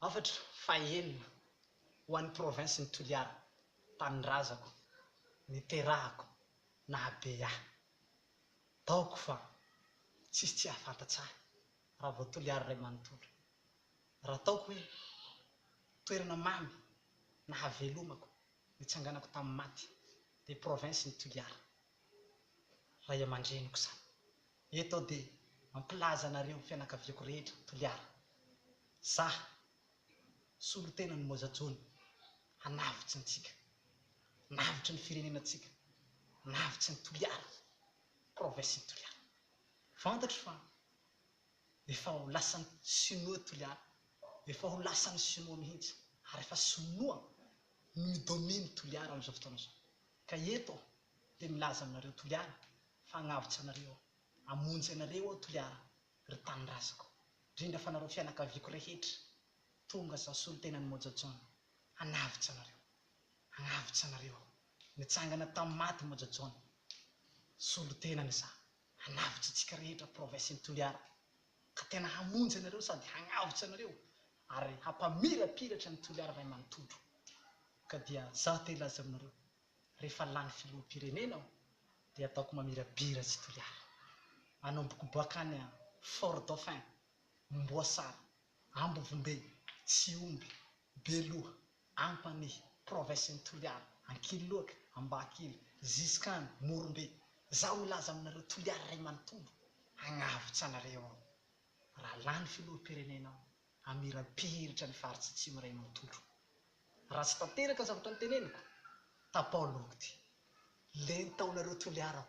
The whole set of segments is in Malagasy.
Hafatra fahenina ho an'ny provinsin'i Toliara, tanindrazako, niterahako, nahabe ahy. Taoko fa tsisy tsy hahafantatsa ahy raha vao Toliara iray manontolo. Raha taoko hoe toerana mamy nahavelomako nitsanganako tamin'ny maty dia provinsin'i Toliara. Ray aman-dreniko izany. Eto aho dia mampilaza anareo fianakaviako rehetra Toliara. Izaho, solontenan'i Moja John, hanavotsy antsika. Hanavotry ny firenena antsika. Hanavotry ny Toliara. Province-n'i Toliara. Fantatro fa efa ho lasan'ny Sinoa Toliara. Efa ho lasan'ny Sinoa mihitsy. Ary efa Sinoa no mi-domine Toliara amin'izao fotoana izao. Ka eto dia milaza aminareo Toliara fa hagnavotra anareo, hamonjy anareo aho Toliara ry tanindrazako, ndrindra fa nareo fianakaviako rehetra, tonga zaho solontenan'i Moja John hanavotra anareo, hagnavotra anareo, nitsangana tamin'ny maty Moja John, solontenany za, hanavotra antsika rehetra province-n'i Toliara, ka tena hamonjy anareo sady hagnavotra anareo ary hampamirapiratra ny Toliara ray manontolo ka dia izaho te hilaza aminareo rehefa lany filoham-pirenena aho dia ataoko mamirabiratsy i Toliara manomboka boakany Fort Dauphin, Amboasary, Ambovombe, Tsihombe, Beloha, Ampanihy, Province-n'i Toliara, Ankiloaka, Ambahakely, jusqu'à any Morombe, zaho milaza aminareo Toliara iray manontolo hagnavotsa anareo ao. Raha lany filoham-pirenena ao, hamirapiratra ny faritsy atsimo iray manontolo. Raha tsy tanteraka ny zavatra noteneniko, tapao loha ity. Lenta ao nareo Toliara ao.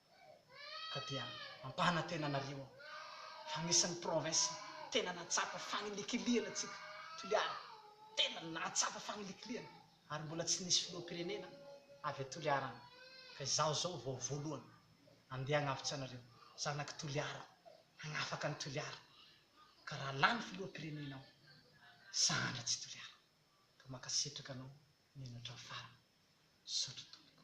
ka dia ampanantena anareo aho fa anisan'ny province tena nahatsapa fanilikilihana tsika Toliara tena nahatsapa fanilikilihana ary mbola tsy nisy filoham-pirenena avy a Toliara any ka izaho izao vao voalohany andeha hanavotra anareo zanak'i Toliara hanafaka an'i Toliara ka raha lany filoham-pirenena aho sahana tsy Toliara ka mankasitraka anao nianatra ny farany misaotra tompoko.